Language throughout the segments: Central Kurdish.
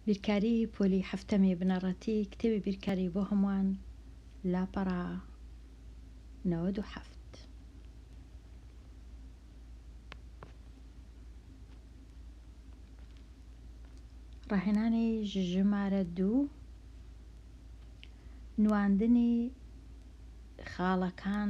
بیرکاری پۆلی حەفتەمی بنەڕەتی کتێبی بیرکاری بۆ هەمووان لاپەڕە نەوەد و حەفت ڕاهێنانی ژمارە دوو نواندنی خاڵەکان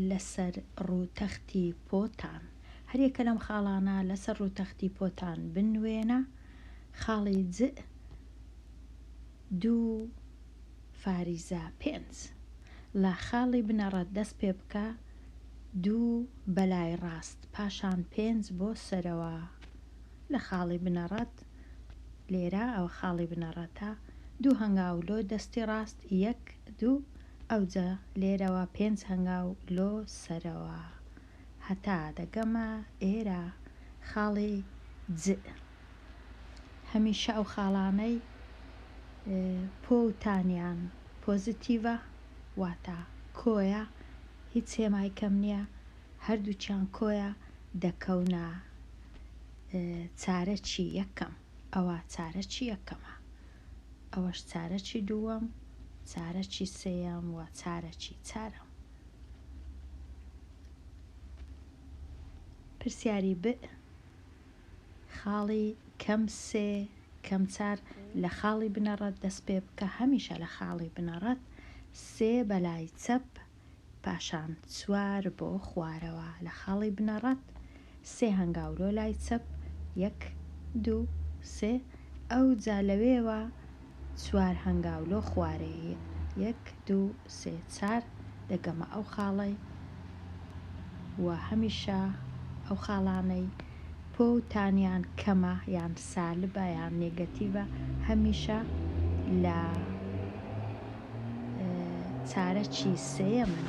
لەسەر ڕووتەختی پۆتان هەر یەکە لەم خاڵانە لەسەر ڕووتەختی پۆتان بنوێنە، خاڵی جئ دوو فاریزە پێنج. لە خاڵی بنەڕەت دەست پێ بکە، دوو بەلای ڕاست پاشان پێنج بۆ سەرەوە لە خاڵی بنەڕەت، لێرە ئەوە خاڵی بنەڕەتە، دوو هەنگاو لۆ دەستی ڕاست، یەک دوو، ئەوجە لێرەوە پێنج هەنگاو لۆ سەرەوە هەتا دەگەمە ئێرە خاڵی جئ هەمیشە ئەو خاڵانەی پۆ و تانیان پۆزیتیڤە واتا کۆیە هیچ هێمای کەم نیە هەردووکیان کۆیە دەکەونە چارەکی یەکەم ئەوە چارەکی یەکەمە ئەوەش چارەکی دووەم چارەکی سێیەم و چارەکی چارەم. پرسیاری بئ خاڵی کەم سێ کەم چار لە خاڵی بنەڕەت دەست پێ بکە هەمیشە لە خاڵی بنەڕەت سێ بەلای چەپ پاشان چوار بۆ خوارەوە لە خاڵی بنەڕەت سێ هەنگاولۆ لای چەپ یەک دوو سێ ئەوجا لەوێوە چوار هەنگاولۆ خوارێ یەک دوو سێ چار دەگەمە ئەو خاڵەی و هەمیشە ئەو خاڵانەی پۆ و تانیان کەمە یان سالبە یان نێگەتیڤە هەمیشە لە چارەکی سێیەمن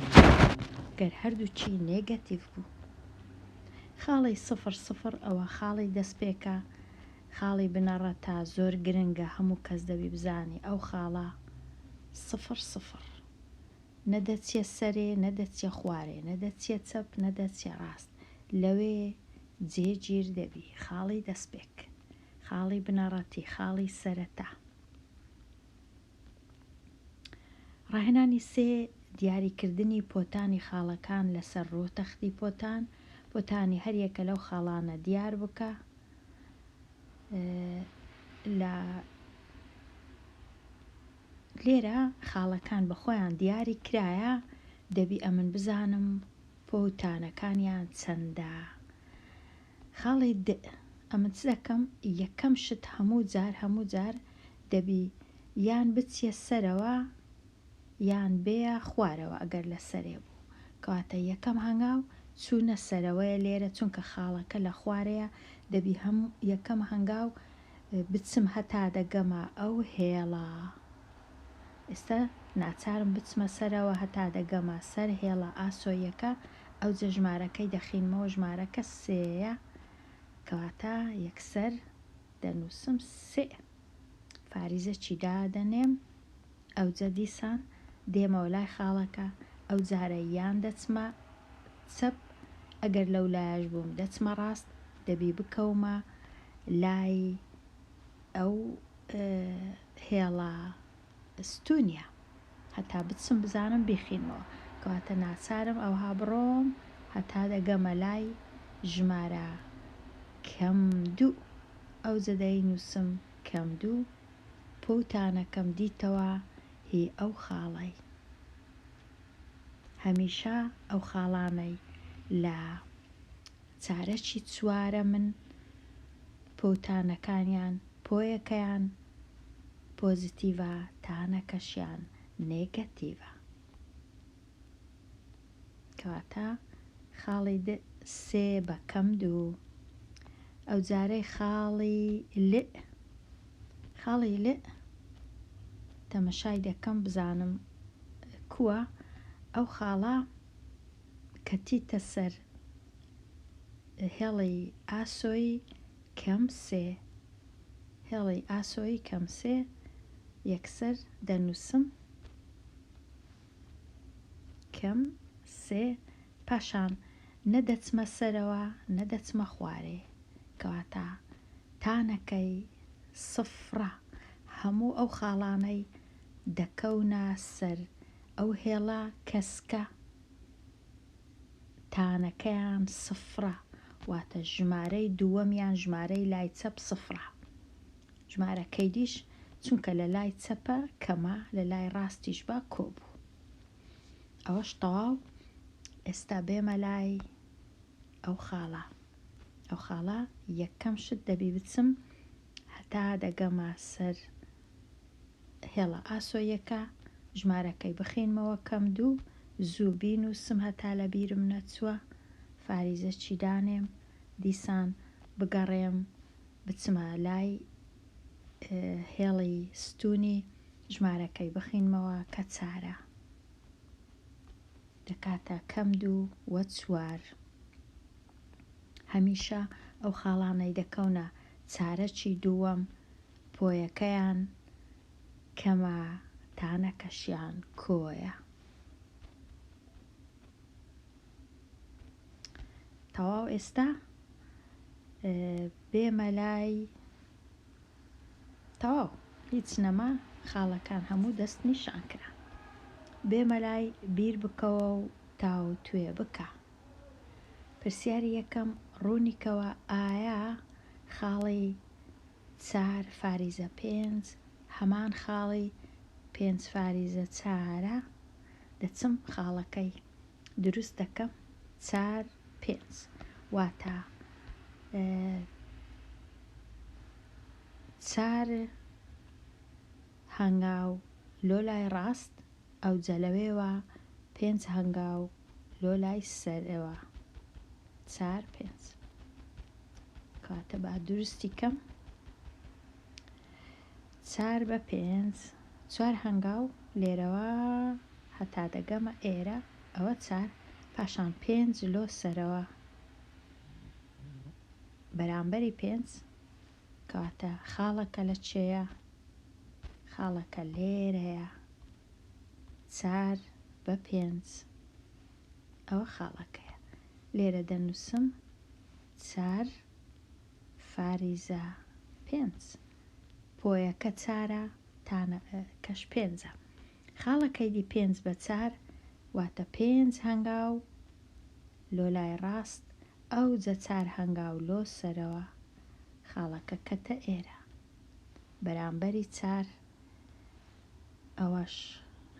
گەر هەردووکی نێگەتیڤ بوو. خاڵی سفر سفر ئەوە خاڵی دەستپێکە خاڵی بنەڕەتە زۆر گرنگە هەموو کەس دەبی بزانی ئەو خاڵە سفر سفر نە دەچیە سەرێ نە دەچیە خوارێ نە دەچیە چەپ نە دەچیە ڕاست لەوێ جێ گیر دەبی خاڵی دەستپێک خاڵی بنەڕەتی خاڵی سەرەتا. ڕاهێنانی سێ، دیاریکردنی پۆتانی خاڵەکان لەسەر ڕوو تەختی پۆتان، پۆتانی هەریەکە لەو خاڵانە دیاربکە لێرە خاڵەکان بەخۆیان دیاری کرایە دەبی ئەمن بزانم پۆتانەکانیان چەندە خاڵی دئ ئەمن چ دەکەم یەکەم شت هەموو جار هەموو جار دەبی یان بچیە سەرەوە یان بێە خوارەوە ئەگەر لە سەرێ بوو کەواتە یەکەم هەنگاو چوونە سەرەوەیە لێرە چونکە خاڵەکە لە خوارەیە دەبی هەم یەکەم هەنگاو بچم هەتا دەگەمە ئەو هێڵە ئێستا ناچارم بچمە سەرەوە هەتا دەگەمە سەر هێڵە ئاسۆیەکە ئەوجە ژمارەکەی دەخینمەوە ژمارەکە سێیە کەواتە یەکسەر دەنووسم سێ فاریزەکی دادەنێم ئەوجە دیسان دێمەوە لای خاڵەکە ئەو جارە یان دەچمە چەپ ئەگەر لەو لایەش بووم دەچمە ڕاست دەبی بکەومە لای ئەو هێڵە ستونیا، هەتا بتسم بزانم بیخینمەوە، کەواتە ناچارم ئەوها بڕۆم هەتا دەگەمە لای ژمارە کەم دوو، ئەوجە دەینووسم کەم دوو، پووتانەکەم دیتەوە هی ئەو خاڵەی. هەمیشە ئەو خاڵانەی لە چارەکی چوارەمن پووتانەکانیان، پۆیەکەیان، پۆزیتیڤە تانەکەشیان نێگەتیڤە. کەواتە خاڵی د سێ بە کەم دوو. ئەو جارەی خاڵی ل خاڵی ل تەمەشای دەکەم بزانم کووە ئەو خاڵە کە چیتە سەر هێڵی ئاسۆی کەم سێ، هێڵی ئاسۆیی کەم سێ، یەکسەر دەنووسم کەم سێ، پاشان نە دەچمە سەرەوە نە دەچمە خوارێ، کەواتە تانەکەی سفرە، هەموو ئەو خاڵانەی دەکەونە سەر ئەو هێڵە کەسکە. تانەکەیان سفرە واتە ژمارەی دووەم یان ژمارەی لای چەپ سفرە ژمارە کەیدیش چونکە لە لای چەپە کەمە لە لای ڕاستیش بە کۆبوو ئەوەش تەواو ئێستا بێمە لای ئەو خاڵە ئەو خاڵە یەکەم شت دەبی بچم هەتا دەگەمە سەر هێڵە ئاسۆیەکە ژمارەکەی بخینمەوە کەم دوو زوو بین و سم هەتا لە بیرم نەچووە فاریزە چی دانێم دیسان بگەڕێم بچمە لای هێڵی ستونی ژمارەکەی بخینمەوە کە چارە دەکاتە کەم دوو وە چوار هەمیشە ئەو خاڵانەی دەکەونە چارەکی دووەم پۆیەکەیان کەمە تانەکەشیان کۆیە. تەواو ئێستا بێمە لای تەواو هیچ نەما خاڵەکان هەموو دەست نیشان کرا بێمە لای بیر بکەوە و تاو توێ بکە پرسیاری یەکەم ڕوونیکەوە ئایا خاڵی چار فاریزە پێنج هەمان خاڵی پێنج فاریزە چارە دەچم خاڵەکەی دروست دەکەم چار پێنج واتا چار هەنگاو لۆ لای ڕاست ئەوجە لەوێوە پێنج هەنگاو لۆ لای سەرەوە چار پێنج کاتە با دروستی کەم چار بە پێنج چوار هەنگاو لێرەوە هەتا دەگەمە ئێرە ئەوە چار پاشان پێنج لۆ سەرەوە بەرامبەری پێنج کەواتە خاڵەکە لە چێیە؟ خاڵەکە لێرەیە چار بە پێنج ئەوە خاڵەکەیە لێرە دەنووسم چار فاریزە پێنج پۆیەکە چارە تانە کەش پێنجە خاڵەکەی دی پێنج بە چار واتە پێنج هەنگاو لۆ لای ڕاست ئەوجە چار هەنگاو لۆ سەرەوە خاڵەکە کەتە ئێرە بەرامبەری چار ئەوەش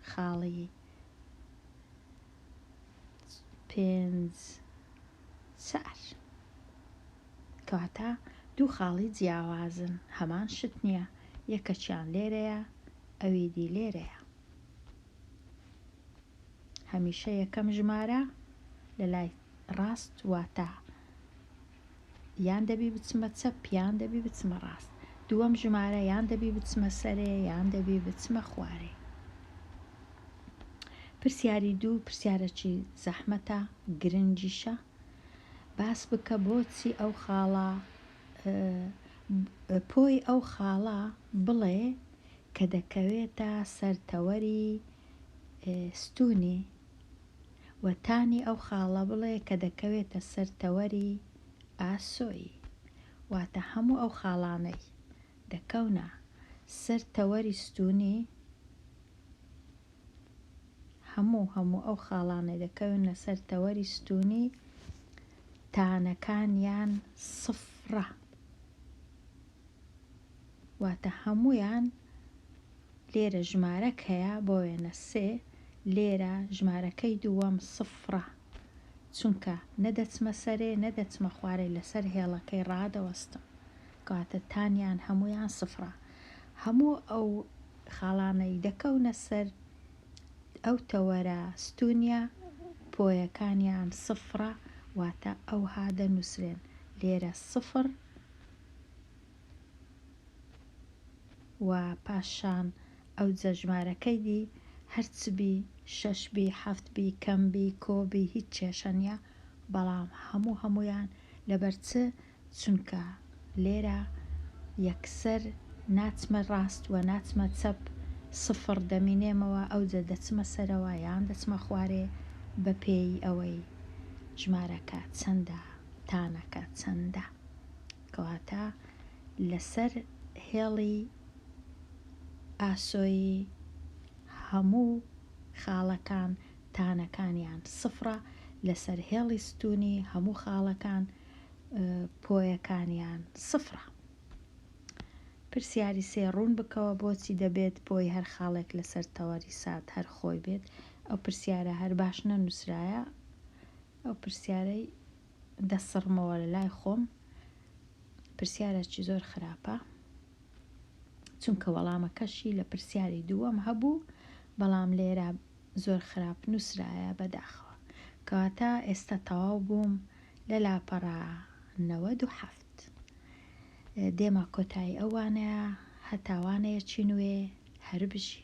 خاڵی پێنج چار کەواتە دوو خاڵی جیاوازن هەمان شت نییە یەکەکیان لێرەیە ئەویدی لێرەیە هەمیشە یەکەم ژمارە لە لای ڕاست واتە یان دەبی بچمە چەپ یان دەبی بچمە ڕاست دووەم ژمارە یان دەبی بچمە سەرێ یان دەبی بچمە خوارێ پرسیاری دوو پرسیارەکی زەحمەتە گرنگیشە باس بکە بۆچی ئەو خاڵە پۆی ئەو خاڵە بڵێ کە دەکەوێتە سەر تەوەری ستوونی و تانی ئەو خاڵە بڵێ کە دەکەوێتە سەر تەوەری ئاسۆی، واتە هەموو ئەو خاڵانەی دەکەونە سەر تەوەری ستوونی، هەموو هەموو ئەو خاڵانەی دەکەونە سەر تەوەری ستوونی تانەکانیان سفرە. واتە هەموویان لێرە ژمارەک هەیە بۆ وێنە سێ لێرە ژمارەکەی دووەم سفڕە چونکە نەدەچمە سەرێ نەدەچمە خوارێ لەسەر هێڵەکەی ڕادەوەستم کاتە تانیان هەمویان سفرە هەموو ئەو خاڵانەی دەکەونە سەر ئەو تەوەرە ستونیا پۆیەکانیان سفرە واتە ئەوها دەنووسرێن لێرە سفر و پاشان ئەوجە ژمارەکەی دی هەر چ بی شەش بی حەفت بی کەم بی کۆ بی هیچ کێشە نیە بەڵام هەموو هەموویان لەبەر چ چونکە لێرە یەکسەر ناچمە ڕاست وە ناچمە چەپ سفڕ دەمینێمەوە ئەوجە دەچمە سەرەوە یان دەچمە خوارێ بەپێ ی ئەوەی ژمارەکە چەندە تانەکە چەندە. کەواتە لەسەر هێڵی ئاسۆیی هەموو خاڵەکان تانەکانیان سفرە لەسەر هێڵی ستونی هەموو خاڵەکان پۆیەکانیان سفرە پرسیاری سێ ڕوون بکەوە بۆچی دەبێت پۆی هەر خاڵێک لەسەر تەوەری سات هەر خۆی بێت ئەو پرسیارە هەر باش نەنووسرایە ئەو پرسیارەی دەسڕمەوە لە لای خۆم پرسیارێکی زۆر خراپە چونکە وەڵامەکەشی لە پرسیاری دووەم هەبوو بەڵام لێرە زۆر خراپ نووسرایە بەداخەوە کەواتە ئێستا تەواو بووم لە لاپەڕە نەوەد و حەفت دێمە کۆتایی ئەوانەیە هەتاوانەیە چی نوێ هەربژی